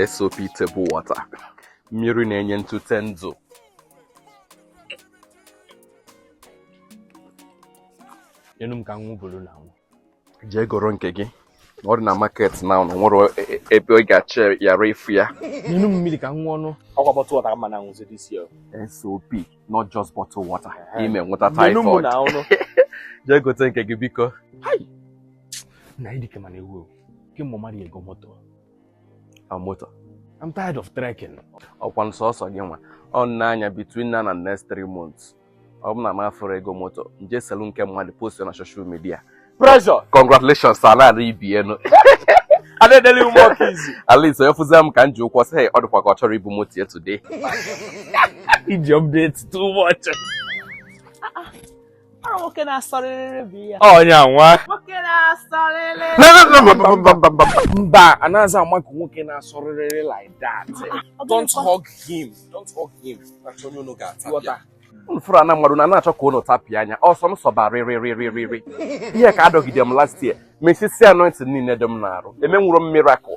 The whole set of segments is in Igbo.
SOP table water mmiri na-enye ntute ndụ nyenu m ka m ṅụọ buru naa ṅụọ jee goro nke gị ọ dị na market now o nwero e- e- ebe ị ga-achọ yara ịfụ ya nyenu m mmiri ka m ṅụọ nụ ọkwa bottle water ka m ma na-aṅụzi this year SOP not just bottle water ị ma enweta typhoid jee gote nke gị biko na ịdị kema na-ewu ewu gị mụ mmadụ ego moto a moto I'm tired of trekking ọkwa nsọsọ gị nwa ọ na-anya between now and next three months ọ bụ na m afụrọ ego moto m je selu nke mmadụ post na social media pressure congratulations salad ibienu adedele ume ọ ka easy at least onye fụzie m ka m ji ụkwụ sị ọ dịkwa ka ọ chọrọ ibu moto ya today iji update too much ọnya nwa mba anaghịzi ama ka nwoke na-asọrịrị like that don't hug him don't hug him m fụrụ na mmadụ na na-achọ ka unu tapịa anya ọ sọọ m sọba rịrịrịrịrị ihe ka a dọgide m last year mesisie anointing niile dị m n'arụ emenwuro m miracle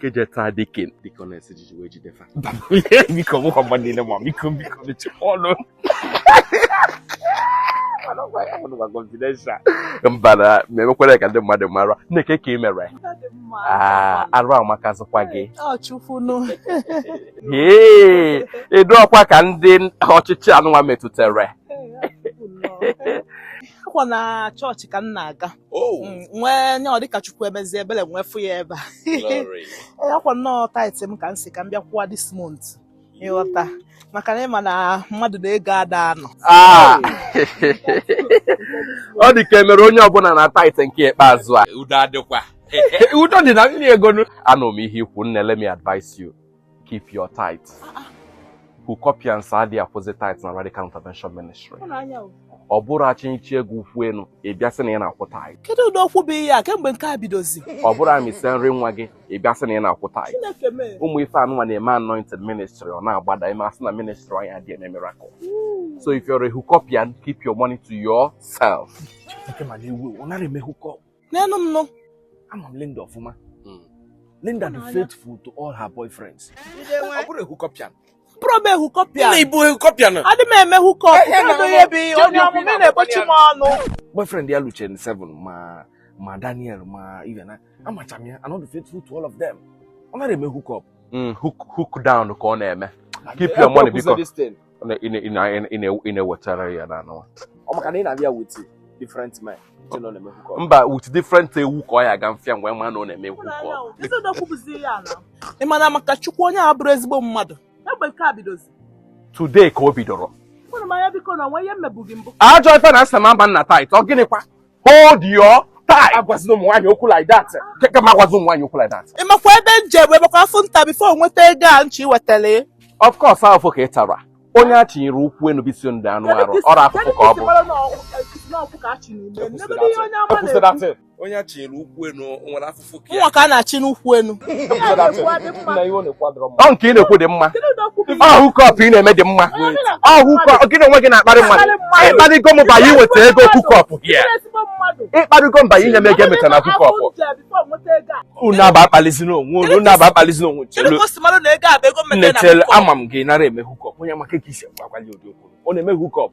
kejeta deacon deaconess jiji wee jide fa biko mụkwa mmadụ niile ma biko biko mechikwa ọnụ mba na emekwere ka ndị mmadụ mara nne kee ka ị mere ah, arụ amakazikwa gị ee ịdụ ọkwa ka ndị ọchịchị anụnwa metụtara akwa na chọọchị ka m na-aga Oh. Mm, nwee nye ọ dịka chukwu emezie ebele m wee fụ ya ebe a ee akwa nnọọ tithe m ka m si ka m bịa kwụwa this month ị ghọta maka na ị ma na mmadụ na ego ada anọ ah. ọ dị ka e mere onye ọbụla na tithe nke ikpeazụ a udo adịkwa udo dị na nri ego anụ m ihe i kwu nne let me advise you keep your tithe ah, ah. hookupians adịghị akwụzi tithe na Radical Intervention Ministry ọ bụrụ a chịnịchaa gị ụkwụ elu ị bịa sị na ị na-akwụ tithe kedu ụdị okwu bụ ihe a kemgbe nke a bidozi ọ bụrụ a mịsịa nri nwa gị ị bịa sị na ị na-akwụ tithe ụmụ ife anụnwa na-eme anointing ministry ọ na-agbada e mee a sị na ministry anyị adịghị eme miracle hmm. so if you're a hookupian keep your money to yourself neenu m nụ ama m Linda ọfụma hmm. Linda dị faithful to all her boyfriends ọ bụrọ hookupian abụrọ m hookupian ị bụ hookupian adị m eme hookup onye ọmụmụ na-egbochi m ọnụ boyfriend ya luchaa 7 ma ma Daniel ma Ivana amacha m ya mana ọ dị faithful to all of them ọ nara eme hookup hmm, hook down ka ọ na-eme keep your money biko ị na-ewetara ya na anụwa ọ maka na ị na-abịa with different men mba with different ewu ka ọ ya aga mfịa mgbe ma na ọ na-eme hookup ị ma na maka chukwu onye a bụrụ ezigbo mmadụ today ka o bidoro ajọ ife na asị na mba nna tithe ọ gịnịkwa hold your tithe agwazina ụmụ nwaanyị okwu like that keke m agwazi ụmụ nwaanyị okwu like that ị makwa ebe m je bụ ebekwa afụfụ m ta before nweta ego a m chi wetara of course afụfụ ka ị tara onye a chinyere ụkwụ enu bisi ndị anụ arụ ọrụ afụfụ ka ọ bụ onye a chinyere ụkwụ enu nwere afụfụ nwa ka a na-achị n'ụkwụ enu ọ nke ị na-ekwu dị mma ọ hookup ị na-eme dị mma ọ hookup gị na onwe gị na-akparị mmadụ ị kparịgo m by iweta ego hookup here ị kparịgo m by inye m ego e meta na hookup unu abụa akpalizina onwe unu unu abụa akpalizina onwe chelu nne chelu ama m gị nara eme hookup onye maka ka isi agwa ya ụdị okwu ọ na-eme hookup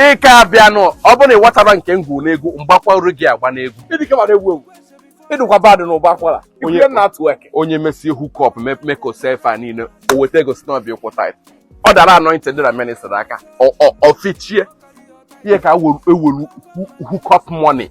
ị ka abịanụ ọ bụrụ na ị watara nke ngwu n'egwu m gbakwaru gị agba n'egwu ị dịkwa bad na ụba akwara onye na-atụ eke onye mesie hookup mekosefa niile o weta ego sị na ọ bịa ịkwụ tithe ọ dara anointing dị na ministry aka o fichie ihe ka e welu hookup money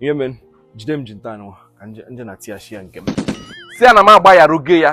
ihe mere jide m ji nta anụwa ka m je na tia shia nke m si ya na m agbayarugo ya